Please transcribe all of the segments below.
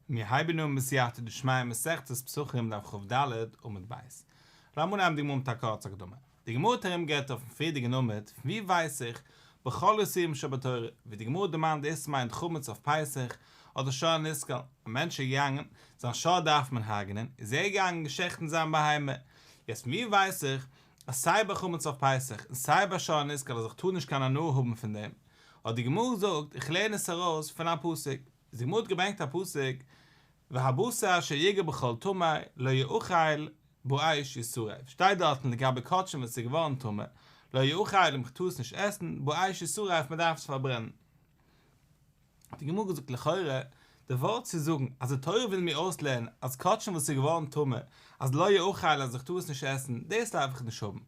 מיר הייבן אן בסייעתא דשמיא מסכת פסחים דף כב ד עמוד ב'. לאמיר נעמען די גמרא מיט א קורצע הקדמה. די גמרא האט ארום גערעדט אויפן פריערדיגן עמוד פון ווי ווייס איך בכל איסורים שבתורה ווי די גמרא דערמאנט דאס מיינט חמץ אויף פסח אדער שור נסקל א מענטש איז געגאנגען זיין שור דארף מען הרג'נען איז ער געגאנגען געשעכטן זיין בהמה יעצט פון ווי ווייס איך אז סיי ביי חמץ אויף פסח און סיי ביי שור נסקל אז איך טאר נישט קיין הנאה האבן פון דעם אט די גמרא זאגט, איך לערן עס ארויס פון א פסוק, די גמרא האט געברענגט א פסוק, והבשר אשר יגע בכל טמא לא יאכל בו איש ישרף, שטייט דארטן לגבי קאטשען וואס איז געווארן טמא, לא יאכל, מען טאר עס נישט עסן, בו איש ישרף, מען דארף עס פארברענען. האט די גמרא געזאגט, לכאורה, די ווארט צו זאגן אז די תורה וויל מיר אויסלערנען אז קאטשען וואס איז געווארן טמא, אז לא יאכל אז איך טאר עס נישט עסן, דאס דארף איך נישט האבן,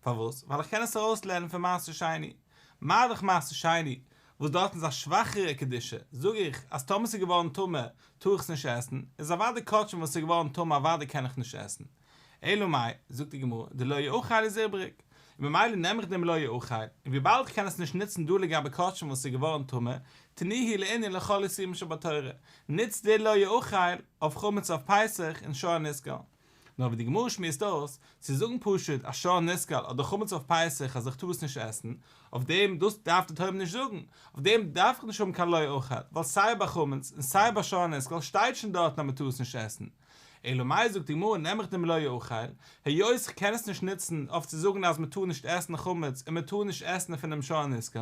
פארוואס? ווייל איך קען עס ארויסלערנען פון מעשה שני. מה דאך מעשה שני, וואס דארטן איז א שוואכערע קדושה, זאג איך אז טאמער ס'איז געווארן טמא טאר איך עס נישט עסן, איז אוודאי כאטש וואס ס'איז געווארן טמא אוודאי קען איך נישט עסן. אלא מאי, זאגט די גמרא, די לא יאכל איז איבריג, און ממילא נעם איך דעם לא יאכל, און וויבאלד איך קען עס נישט נוצן דא לגבי כאטש וואס ס'איז געווארן טמא, תני היא לענין לכל איסורים שבתורה, נוץ די לא יאכל אויף חמץ אויף פסח און שור הנסגר. נאר ווי די גמרא שמועסט אויס, צו זאגן פשוט א שור נשכל אדער חמץ אויף פסח אז איך טאר עס נישט עסן, אויף דעם, דאס דארף די תורה נישט זאגן, אויף דעם דארף איך נישט האבן קיין לא אוכל, ווייל סיי ביי חמץ און סיי ביי שור נשכל שטייט שוין דארטן אז מען טאר עס נישט עסן. אלא מאי זאגט די גמרא נעם איך דעם לא אוכל, היות איך קען עס נישט נוצן אויף צו זאגן אז מען טאר נישט עסן חמץ און מען טאר נישט עסן פונעם שור נשכל,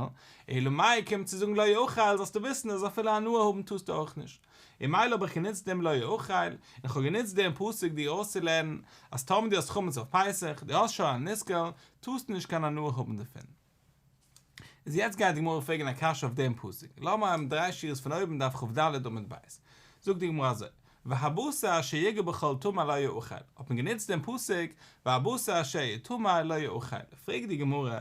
אלא מאי קומט צו זאגן לא אוכל זאלסטו וויסן אז אפילו הנאה האבן טארסטו אויך נישט. און מילא האב איך גענוצט דעם לא יאכל, און איך האב גענוצט דעם פסוק דיר אויסצולערנען אז טאמער דו האסט חמץ אויף פסח, דו האסט שוין א ניסקל, טארסטו נישט קיין הנאה האבן דערפון. איז יעצט גייט די גמרא פרעגן א קשיא אויף דעם פסוק, לאמער האבן דריי שורות פון אויבן דף כב ד עמוד ב', זאגט די גמרא אזוי, והבשר אשר יגע בכל טמא לא יאכל, האט מען גענוצט דעם פסוק והבשר אשר יטמא לא יאכל, פרעגט די גמרא,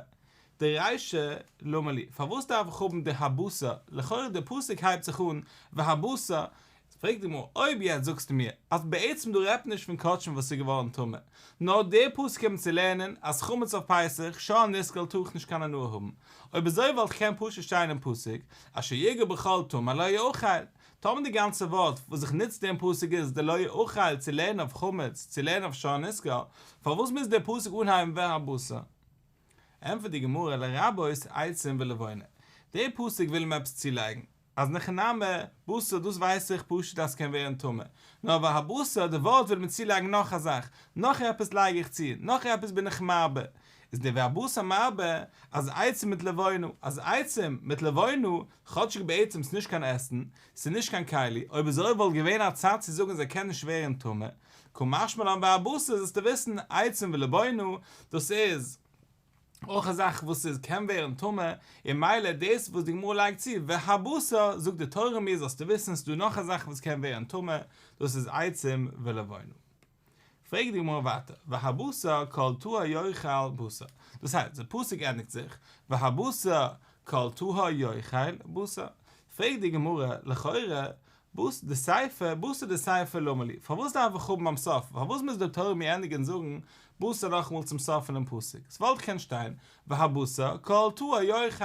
די רישא למה לי, פארוואס דארף איך האבן די הבשר, לכאורה די פסוק הייבט זיך אן והבשר, פרעגט די גמרא, אויב יעצט זאגסטו מיר אז בעצם דא רעדט מען נישט פון קאטשן וואס איז געווארן טמא, נאר די פסוק האבן צו לערנען אז חמץ אויף פסח שאר נסקל טאר איך נישט קיין הנאה האבן, אויב אזוי וואלט קענען פשוט שטיין אין פסוק אשר יגע בכל טמא לא יאכל, טאמער די גאנצע ווארט וואס זיך נוצט אין פסוק איז די לא יאכל צו לערנען אויף חמץ, צו לערנען אויף שאר נסקל, פארוואס מוז די פסוק אנהייבן והבשר? ענטפערט די גמרא לרבות עצים ולבונה, די פסוק וויל אים עפעס צולייגן, אז ניחא נמי, בשר דאס ווייס איך פשוט אז ס'קען ווערן טמא, נאר אבער הבשר די ווארט וויל מיר צולייגן נאך א זאך, נאך עפעס לייג איך צו, נאך עפעס בין איך מרבה, איז די והבשר מרבה אז עצים מיט לבונה, אז עצים מיט לבונה כאטשיג בעצם ס'איז נישט קיין עסן, ס'איז נישט קיין כלי, אויב עס אויב וואלט געווען א צד צו זאגן אז ער קען נישט ווערן טמא, כמשמע לן והבשר זאלסטו וויסן, עצם ולבנו, דאס איז אויך א זאך וואס איז קען ווערן טמא, און מילא דאס וואס די גמרא לייגט צו והבשר זאגט די תורה מיר זאלסטו וויסן ס'איז דא נאך א זאך וואס קען ווערן טמא, דאס איז עצם ולבנו. פרעגט די גמרא ווייטער, והבשר כל טהר יאכל בשר, דאס הייסט, די פסוק ענדיגט זיך, והבשר כל טהר יאכל בשר, פרעגט די גמרא, לכאורה, בס ד סיפא, בשר די סיפא למה לי, פארוואס דארף איך האבן ביים סוף, פארוואס מוז דער תורה מיר ענדיגן זאגן בשר נאכאמאל צום סוף פונעם פסוק, ס'וואלט געקענט שטיין, והבשר כל תאוה יאכל,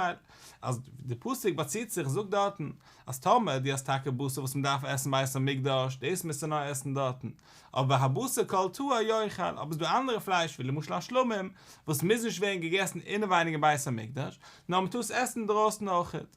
אז די פסוק באציט זיך זאגט דארטן אז טאמער דו האסט טאקע בשר וואס מען דארף עסן בית המקדש דאס מוזטו נאר עסן דארטן, אבער והבשר כל תאוה יאכל, אבער עס איז דא אנדערע פלייש ווי למשל א שלמים וואס מוז נישט ווערן געגעסן אינעווייניג אין בית המקדש, נאר מען טאר עס עסן אינדרויסן אויכעט.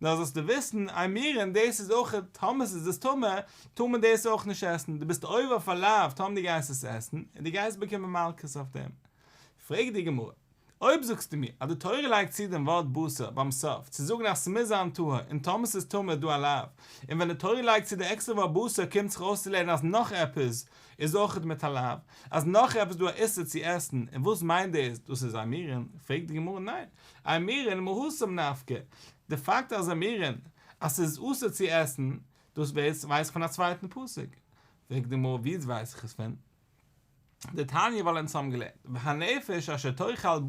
נאר זאלסטו וויסן, איי מירען, דאס איז אויך א טמא, ס'איז דאס טמא, טאר מען דאס אויך נישט עסן, דו ביסט עובר אויף א לאו, טאמער דו גייסט עס עסן, און דו גייסט באקומען מלקות אויף דעם. פרעגט די גמרא, אויב זאגסטו מיר אז די תורה לייגט צו דעם ווארט בשר ביים סוף צו זאגן אז ס'מוז זיין טהור, און טאמער ס'איז טמא איז דא א לאו, און ווען די תורה לייגט צו די עקסטערע ווארט בשר קומט זיך אויס צו לערנען אז נאך עפעס איז אויך מיט א לאו, אז נאך עפעס איז דא א איסור צו עסן, און וואס מיינט דאס, דאס איז איי מירען? פרעגט די גמרא, ניין, א מירען מהוסם נפקא, די פאקט אז א מירען אז ס'איז אסור צו עסן, דאס ווייס איך פון א צווייטן פסוק, פרעגט די גמרא ווי ווייס איך עס פון די תניא ווייל אונז האבן געלערנט והנפש אשר תאכל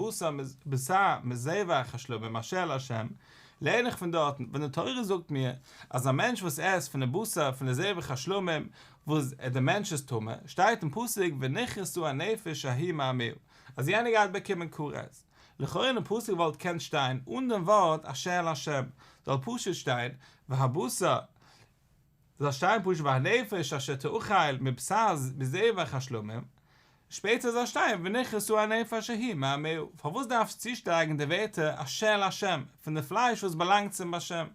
בשר מזבח השלום ממשל השם, לערן איך פון דארטן ווען די תורה זאגט מיר אז א מענטש וואס עסט פון די בשר פון די זבח השלמים וואס די מענטש איז טמא, שטייט אין פסוק ונכרסו הנפש ההיא מעמיהו אז יענער גייט באקומען כרת. לכאורה אין די פסוק וואלט קענט שטיין אן דעם ווארט אשר לשם, זאל פשוט שטיין והבשר, זאל שטיין פשוט והנפש אשר תאכל מבשר מזבח השלמים, שפעטער זאל שטיין ונכרסו הנפש ההיא מעמהו, פארוואס דארפסט צושטרייכן די ווערטער אשר לשם, פון די פלייש וואס באלאנגט צום באשער?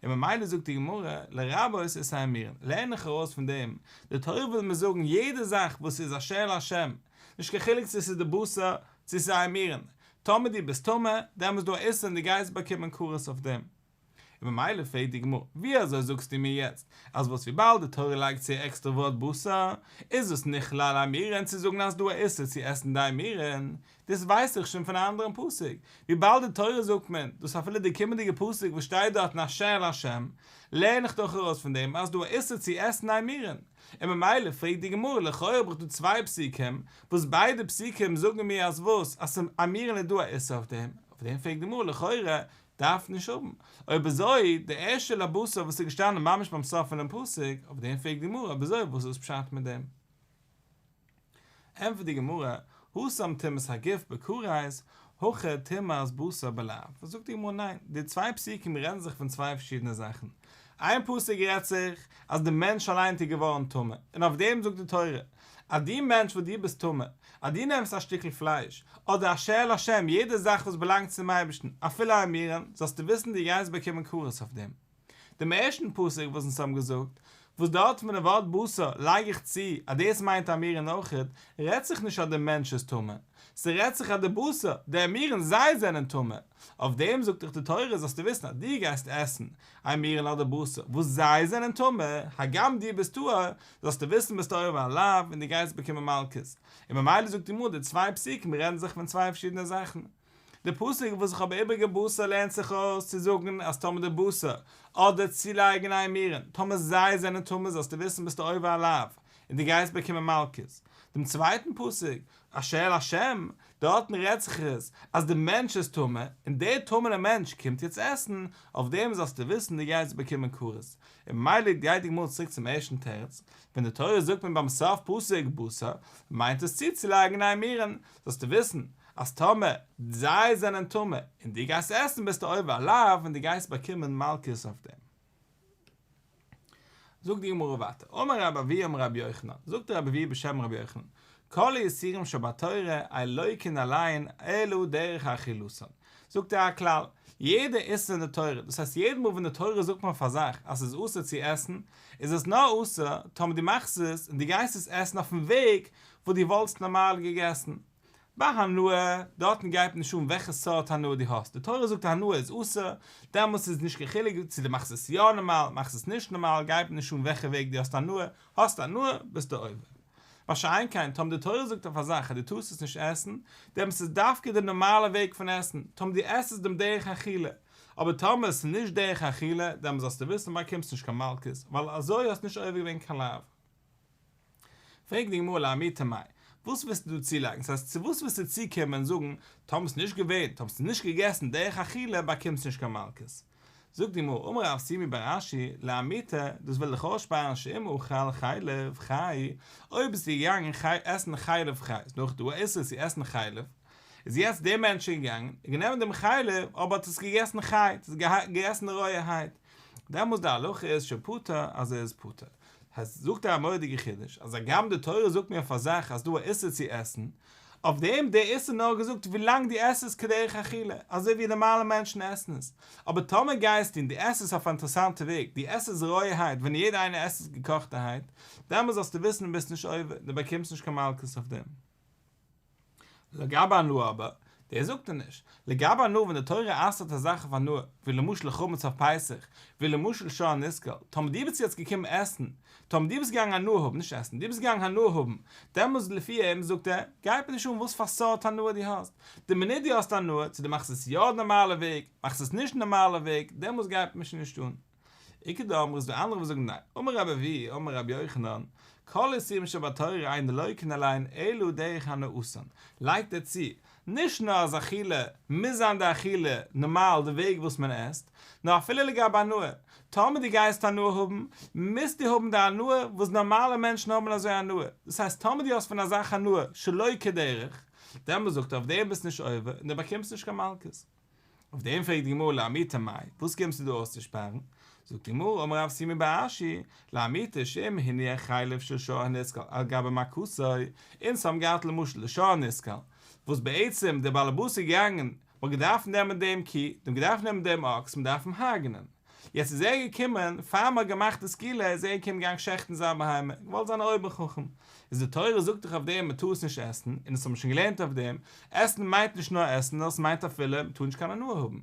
און ממילא זאגט די גמרא, לרבות את האמירן, לערן איך ארויס פון דעם, די תורה וויל מיר זאגן יעדע זאך וואס איז אשר לשם, נישט קיין חילוק צו עס איז די בשר, צו ס'זיי מירן, טאמער דו ביסט טמא, דעמאלס דא איסור און דו גייסט באקומען כרת אויף דעם. און ממילא פרעגט די גמרא, ווי אזוי זאגסטו מיר יעצט, אז וואס וויבאלד די תורה לייגט צו א עקסטער ווארט בשר, איז דאס נכלל א מירן צו זאגן אז ס'דא א איסור צו עסן די מירן, דאס ווייס איך שוין פון א אנדערן פסוק, וויבאלד די תורה זאגט מען דאס אפילו די קומענדיגע פסוק וואס שטייט דארטן אשר על השם, לערן איך דאך ארויס פון דעם אז ס'דא א איסור צו עסן די מירן. און ממילא פרעגט די גמרא, לכאורה האב איך דא צוויי פסוקים, וואס ביידע פסוקים זאגן מיר אז וואס? אז ס'אמירן איז דא א איסור אויף דעם, אויף דעם פרעגט די גמרא, לכאורה דארף נישט האבן, אויב אזוי, די ערשטע לא בשר וואס איז געשטאנען ממש ביים סוף פונעם פסוק, אויף דעם פרעגט די גמרא, אויב אזוי וואס איז פשט מיט דעם? ענטפערט די גמרא, הושם טומאת הגוף בכרית, הכא טומאת בשר בלב, זאגט די גמרא ניין, די צוויי פסוקים רעדן זיך פון צוויי פארשידענע זאכן, איין פסוק רעדט זיך אז די מענטש אליינס איז געווארן טמא, און אויף דעם זאגט די תורה, אז דו מענטש וואס דו ביסט טמא, אז דו נעמסט א שטיקל פלייש, אדער א שעהל השם, יעדע זאך וואס באלאנגט צום אייבערשטן, אפילו א מירון, זאלסטו וויסן דו גייסט באקומען כרת אויף דעם. דעם ערשטן פסוק וואס אונז האבן געזאגט, וואס דארט פון דעם ווארט בשר לייג איך צו אז דאס מיינט א מירון אויכעט, רעדט זיך נישט אז דער מענטש איז טמא, ס'רעדט זיך אז דער בשר, דער מירון זיי זענען טמא. אויף דעם זאגט דיך די תורה זאלסטו וויסן אז דו גייסט עסן א מירון אדער בשר וואס זיי זענען טמא, הגם דו ביסט טהור, זאלסטו וויסן ביסט עובר על הלאו און דו גייסט באקומען מלקות. און ממילא זאגט די גמרא די צוויי פסוקים רעדן זיך פון צוויי פארשידענע זאכן. די פסוק וואס איך האב איבריגע בשר לערנט זיך אויס צו זאגן אז טאמער די בשר, אדער צולייגן איין מירן, טאמער זיי זענען טמא זאלסטו וויסן ביסטו עובר עליו, און דו גייסט באקומען מלקות. דעם צווייטן פסוק, אשר אל השם, דארטן רעדט זיך עס אז די מענטש איז טמא, און דער טמא'נער מענטש קומט יעצט עסן, אויף דעם זאלסטו וויסן דו גייסט באקומען כרת. און ממילא גייט די גמרא צוריק צום ערשטן תירוץ, ווען די תורה זאגט מען ביים סוף פסוק בשר, מיינט עס צוצולייגן איין מירן, זאלסטו וויסן אז טאמער זיי זענען טמא און דו גייסט עסן ביסטו עובר עליו און דו גייסט באקומען מלקות אויף דעם. זאגט די גמרא ווייטער, אמר רב אבי' אמר רבי יוחנן, זאגט רב אבי' בשם רבי יוחנן, כל האיסורים שבתורה אלויקין אליין אלו דרך אכילוסן, זאגט ער א כלל, יעדע איסור אין די תורה, דאס הייסט יעדע מאל ווען די תורה זאגט פאר א זאך אז עס איז אסור צו עסן, איז עס נאר אסור טאמער דו מאכסט עס און דו גייסט עס עסן אויפן וועג וואס דו וואלטסט נארמאל געגעסן. ביי הנאה, דארטן גייט נישט אן וועלכע סארט הנאה דו האסט, די תורה זאגט א הנאה איז אסור, דעמאלטס איז נישט קיין חילוק צו דו מאכסט עס יא נארמאל, מאכסט עס נישט נארמאל, גייט נישט אן וועלכע וועג דו האסט הנאה, האסט הנאה, ביסטו עובר. מה שאין כן, טאמער די תורה זאגט אויף א זאך אז דו טארסט עס נישט עסן, דעמאלטס איז דווקא די נארמאלע וועג פון עסן, טאמער דו עסט עס דעם דרך אכילה, אבער טאמער עס איז נישט דרך אכילה, דעמאלטס זאלסטו וויסן באקומסט נישט קיין מלקות, ווייל אזוי האסט נישט עובר געווען קיין לאו. פרעגט די גמרא לעמי תמי, וואס ווילסטו דא צולייגן? ס'הייסט צו וואס ווילסטו צוקומען און זאגן, טאמער ס'איז נישט געווען, טאמער ס'איז נישט געגעסן דרך אכילה באקומסטו נישט קיין מלקות? זאגט די גמרא, אמר רב סימי בר אשי, לעמי ת, דאס וויל דיך אויסשפארן שאם אכל חלב חי, אויב ביסטו געגאנגען עסן חלב חי, איז נאך דא א איסור צו עסן חלב, איז יעצט דער מענטש איז געגאנגען, ער האט גענומען דעם חלב, אבער האט עס געגעסן חי, האט עס געגעסן רויערהייט, דעמאלס די הלכה איז שהוא פטור אז ער איז פטור. העסט זאגט ער א מורא'דיגע חידוש, אז הגם די תורה זאגט מיר אויף א זאך אז דא א איסור צו עסן, אויף דעם דער איסור נאר געזאגט ווילאנג דו עסט עס כדרך אכילה, אזוי ווי נארמאלע מענטשן עסן עס, אבער טאמער גייסטו און דו עסט עס אויף א אינטערעסאנטע וועג, דו עסט עס רויערהייט ווען יעדער איינער עסט עס געקאכטערהייט, דעמאלס זאלסטו וויסן דו ביסט נישט עובר, דו באקומסט נישט קיין מלקות אויף דעם. לגבי הנאה אבער, דאס זאגט ער נישט. לגבי הנאה ווען די תורה אסר'ט א זאך אויף הנאה, ווי למשל חמץ אויף פסח, ווי למשל שור הנסקל, טאמער דו ביסט יעצט געקומען עסן, טאמער דו ביסט געגאנגען הנאה האבן, נישט עסן, דו ביסט געגאנגען הנאה האבן, דעמאלטס לפי אים, זאגט ער, גייט מיר נישט אן וואס פאר סארט הנאה דו האסט. די מינוט דו האסט הנאה, צו דו מאכסט עס יא די נארמאלע וועג, מאכסט עס נישט די נארמאלע וועג, דעמאלטס גייט מיר שוין נישט אן. עיקר די אמרי ס די אנדערע וואס זאגן ניין. אמר רב אבי' אמר רבי יוחנן, כל איסורים שבתורה אין אלויקין אליין אלא דרך הנאותן, לייגט ער צו, נישט נאר אז אכילה מוז זיין די אכילה נארמאל די וועג וואס מען עסט, נאר אפילו לגבי הנאה, טאמער דו גייסט הנאה האבן, מוזטו האבן די הנאה וואס נארמאלע מענטשן האבן אזוי הנאה, דאס הייסט טאמער דו האסט פון א זאך הנאה שלא כדרך, דעמאלט זאגט ער אויף דעם ביסט נישט עובר און דו באקומסט נישט קיין מלקות. אויף דעם פרעגט די גמרא לאמיתא מאי, וואס קומסטו דא אויסצושפארן? זאגט די גמרא, אמר רב סימא בר אשי, לאמיתא שאם הניח חלב של שור הנסקל על גבי מקותו, אונז האבן געהאט למשל די שור הנסקל, וואס בעצם דער באלעבאס איז געגאנגען, מ'האט געדארפט נעמען דעם קו, מ'האט געדארפט נעמען דעם אקס, מ'דארף אים הרג'נען. יעצט איז ער געקומען, פאר מ'האט געמאכט די סקילה איז ער געקומען געגאנגען שעכטן זיין בהמה, געוואלט זיין א אויבער חכם, איז די תורה זאגט דאך אויף דעם מ'טאר עס נישט עסן, און עס האט מען שוין געלערנט אויף דעם, עסן מיינט נישט נאר עסן, נאר עס מיינט אפילו מ'טאר נישט קיין הנאה האבן.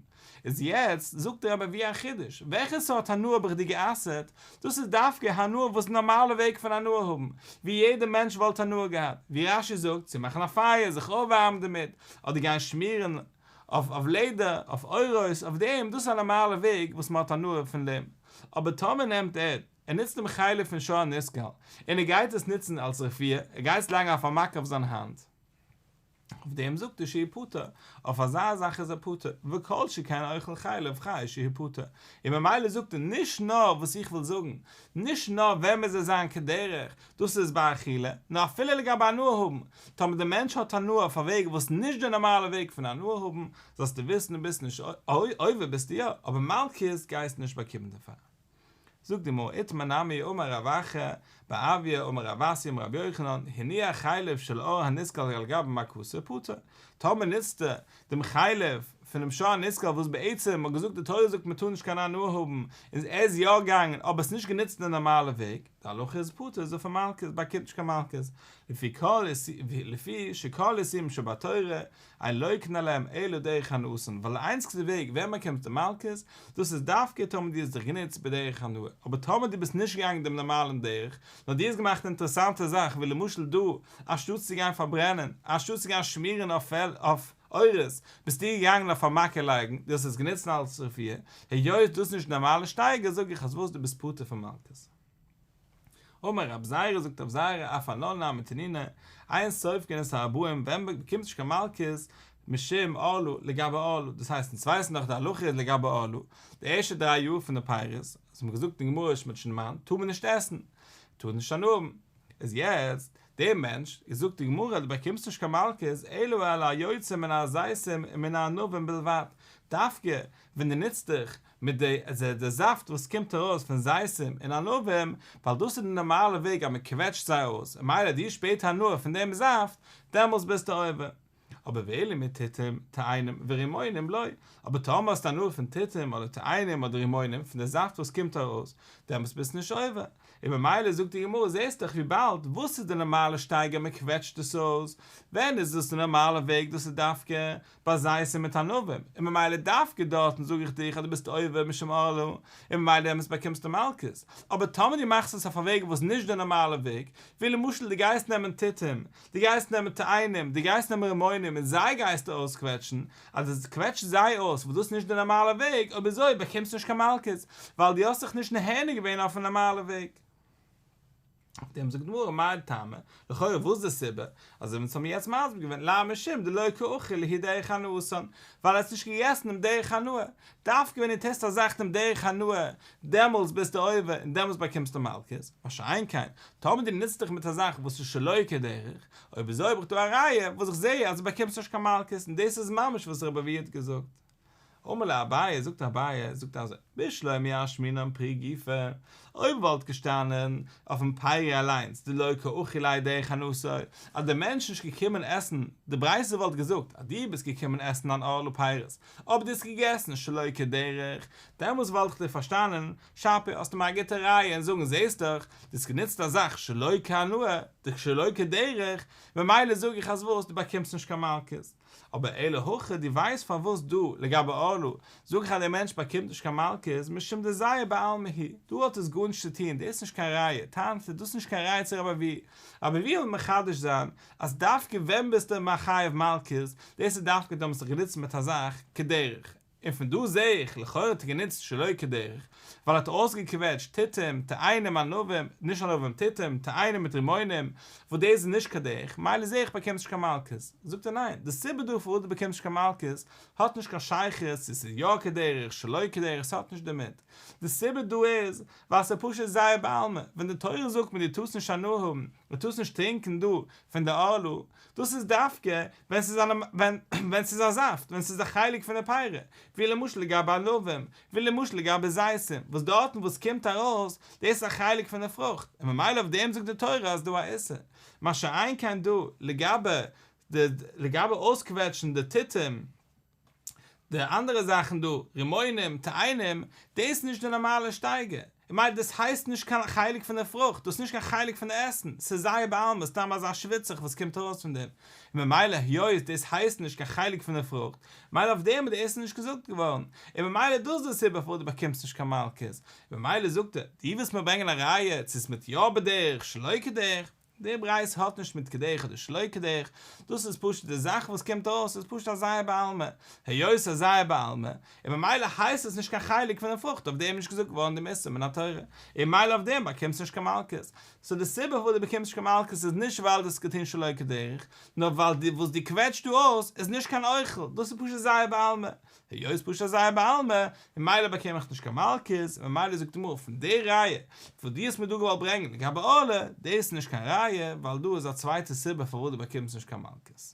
איז יעצט זאגט ער אבער ווי א חידוש, וועלכע סארט הנאה האב איך דיר גע'אסר'ט, דאס איז דווקא הנאה וואס איז די נארמאלע וועג פון הנאה האבן, ווי יעדער מענטש וואלט הנאה געהאט, ווי רש י זאגט, צו מאכן א פייער, זיך אויפווארעמען דערמיט, אדער גיין שמירען, אויף אויף לעדער, אויף אורות, אויף דעם, דאס איז א נארמאלע וועג וואס מ'האט הנאה פון דעם. אבער טאמער נעמט ער, ער נוצט דעם חלק פון שור הנסקל, און ער גייט עס נוצן אלס רפואה, ער גייט עס לייגן אויף א מכה אויף זיין האנט, אויף דעם זאגט ער שיהיה פטור, אויף אזא זאך איז ער פטור, וכל שכן אוכל חלב חי שיהיה פטור. און ממילא זאגט ער, נישט נאר וואס איך וויל זאגן, נישט נאר וועמען זיי זיין כדרך, דאס איז ביי אכילה, נו אפילו לגבי הנאה האבן, טאמער דער מענטש האט הנאה אויף א וועג וואס נישט די נארמאלע וועג פון הנאה האבן, זאלסטו וויסן דו ביסט נישט עובר ביסטו יא, אבער מלקות גייסטו נישט באקומען דערפאר. זאגט די גמרא איתמר נמי אמר רב אחא בר אביה אמר רב אסי אמר רבי יוחנן, הניח חלב של אור הנסקל על גבי מקוה פטור, טאמער נוצטו דעם חלב פונעם שור הנסקל וואס בעצם האט געזאגט די תורה זאגט מען טאר נישט קיין הנאה האבן און ער איז יא געגאנגען אבער עס נישט גענוצט די נארמאלע וועג, די הלכה איז פטור זיך פון מלקות, באקומט נישט קיין מלקות, לפי שכל איסורים שבתורה אין לויקן עליהם אלא דרך הנאות'ן, ווייל די איינציגסטע וועג ווען מען קומט צו מלקות, דאס איז דווקא טאמער דו האסט דיך גענוצט בדרך הנאה, אבער טאמער דו ביסט נישט געגאנגען דעם נארמאלען דרך, נאר דו האסט געמאכט אינטערעסאנטע זאכן ווי למשל דא, אנשטאטס צו גיין פארברענען, אנשטאטס צו גיין שמירען אויף אורות, ביסטו געגאנגען אויף א מכה לייגן, דו האסט עס גענוצן אלס רפואה, היות דאס איז נישט נארמאלע שטייגער זאג איך אז וואס דו ביסט פטור פון מלקות. אמר רב זייערע זאגט רב זייערע אויף אן אנא מתנינא, עיין סוף כנס הרבועים, ווען מען באקומט נישט קיין מלקות, משום עלו, לגבי עלו, דאס הייסט אונז ווייסן דאך די הלכה לגבי עלו, די ערשטע דריי יאר פון די פירות, וואס מען האט געזאגט אין גמרא שמות שנאמנט, טאר מען נישט עסן, טאר נישט אנהאבן, איז יעצט דער מענטש, איז זאגט די גמרא, דו באקומסט נישט קיין מלקות, אלא אלא היוצא מן הזיתים ומן הענבים בלבד, דווקא ווען דו נוצט דיך מיט די זאפט וואס קומט ארויס פון זיתים און ענבים, ווייל דאס איז די נארמאלע וועג אז מען קוועטשט זיי אויס, און מילא דו שפעט הנאה פון דעם זאפט, דעמאלס ביסטו עובר. אבער ואילו מיט תותים, תאנים, ורימונים לא, אבער טאמער האסטו הנאה פון תותים אדער תאנים אדער רימונים פון די זאפט וואס קומט ארויס, דעמאלטס ביסטו נישט עובר, און ממילא זאגט די גמרא זעסט דאך וויבאלד וואס איז די נארמאלע שטייגער מען קוועטשט דאס אויס, ווען איז דאס די נארמאלע וועג דאס איז דווקא ביי זית און מיט ענבים, און ממילא דווקא דארטן זאג איך דיך אז דו ביסט עובר משום עלול, און ממילא דעמאלטס באקומסטו מלקות, אבער טאמער דו מאכסט עס אויף א וועג וואס נישט די נארמאלע וועג, ווי למשל דו גייסט נעמען תותים דו גייסט נעמען תאנים, דו גייסט נעמען רימונים און זיי גייסטו אויסקוועטשן, אז דו קוועטשסט זיי אויס וואס דאס איז נישט די נארמאלע וועג, אויב אזוי באקומסטו נישט קיין מלקות, ווייל דו האסט זיך נישט נהנה געווען אויפן נארמאלע וועג. אויף דעם זאגט די גמרא מאי טעמא, לכאורה וואס איז די סיבה, אזוי ווי אונז האבן יעצט מסביר געווען למה משום דלא כאוכיל להיא דרך הנאות'ן, ווייל ער האט עס נישט געגעסן דעם דרך הנאה, דווקא ווען דו טוסט א זאך דעם דרך הנאה דעמאלס ביסטו עובר און דעמאלס באקומסטו מלקות, מה שאין כן, טאמער דו נוצט דיך מיט א זאך וואס איז שלא כדרך, אויב איז אויב איך טו א ראיה וואס איך זעה אז דו באקומסט נישט קיין מלקות און דאס איז ממש וואס רבי אביי האט געזאגט. אמר לה אביי, זאגט אביי, זאגט אזוי, בשלא מיהר שמינן פרי גופא, אויב וואלט געשטאנען אויפן פייער אליינס דלא כאכיל ליה דרך אנוסו, אז דער מענטש איז נישט געקומען עסן, די ברייתא וואלט געזאגט אז דו ביסט געקומען עסן אן ארלה פיירות, אויב דו האסט געגעסן שלא כדרך, דעמאלטס וואלט איך דיר פארשטאנען, שאפע האסטו מיר א גוטע ראיה אין זאגן זעהסט דאך, דו האסט גענוצט א זאך שלא כהנאה, דאך שלא כדרך, ממילא זאג איך אז וואס, דו באקומסט נישט קיין מלקות. אבער אלא הכי דו ווייסט פארוואס דא, לגבי ארלו, זאג איך אז דער מענטש באקומט נישט קיין מלקות, משום דזייא בעלמא הי', דא האט עס גארנישט צו טון, דאס איז נישט קיין ראיה, טענה'ט ער, דאס איז נישט קיין ראיה צו רבי אביהוא, רבי אביהוא וויל מחדש זיין, אז דווקא ווען ביסטו מחייב מלקות, דאס איז דווקא די האבן זיך גענוצט מיט א זאך כדרך, און פון דא זע איך לכאורה האט ער גענוצט שלא כדרך, ווייל ער האט אויסגעקוועטשט תיתים, תאנים, ענבים, נישט ענבים, תיתים, תאנים מיט רימונים, וואס דאס איז נישט כדרך, מילא זע איך באקומסט נישט קיין מלקות, זאגט ער ניין, די סיבה דא פארוואס דו באקומסט נישט קיין מלקות, האט נישט קיין שייכות צו ס'איז יא כדרך, שלא כדרך, ס'האט נישט דערמיט, די סיבה דא איז, ווייל ס'איז פשוט זייער בעלמא, ווען די תורה זאגט מיר דו טארסט נישט הנאה האבן, דו טארסט נישט טרינקען דא פון די ערלה, דאס איז דווקא ווען ס'איז אן ווען ס'איז א זאפט, ווען ס'איז א חלק פון די פירות, ווי למשל לגבי ענבים, ווי למשל לגבי זיתים, וואס דארטן וואו ס'קומט ארויס, דאס איז א חלק פון די פרוכט, און ממילא אויף דעם זאגט די תורה אז דא א איסור, מה שאין כן דא, לגבי די לגבי אויסקוועטשן די תותים, די אנדערע זאכן דא, רימונים, תאנים, דאס איז נישט די נארמאלע שטייגער. און מילא דאס הייסט נישט קיין חלק פון די פרוכט, דאס איז נישט קיין חלק פון די עסן, ס'איז זייער בעלמא סתם אזא שוויצעך וואס קומט ארויס פון דעם. און ממילא היות דאס הייסט נישט קיין חלק פון די פרוכט, מילא אויף דעם איז די איסור נישט געזאגט געווארן, און ממילא איז דאס די סיבה פארוואס דו באקומסט נישט קיין מלקות. ממילא זאגט ער, דו ווילסט מיר ברענגען א ראיה צו ס'מיט יא בדרך שלא כדרך, די ברייתא האט נישט מיט קדח אדער שלא קדח, דאס איז פשוט די זאך וואס קומט אויס איז פשוט א זייער בעלמא, היות א זייער בעלמא, און ממילא הייסט עס נישט קיין חלק פון די פרוכט אויף דעם איז נישט געזאגט געווארן דעם איסור מן התורה, און ממילא אויף דעם באקומסטו נישט קיין מלקות, סאו די סיבה פארוואס דו באקומסט נישט קיין מלקות איז נישט ווייל דו האסט געטון שלא כדרך, נאר ווייל די וואס דו קוועטשט דא אויס איז נישט קיין אוכל, דאס איז פשוט זייער בעלמא, היות פשט אז זייער בעלמא, און מילא באקום איך נישט קיין מלקות, און ממילא זאגט די מרא פון די ראיה וואס דו האסט מיר דא געוואלט ברענגען לגבי עולה, דאס איז נישט קיין ראיה, ווייל דא איז א צווייטע סיבה פארוואס דו באקומסט נישט קיין מלקות.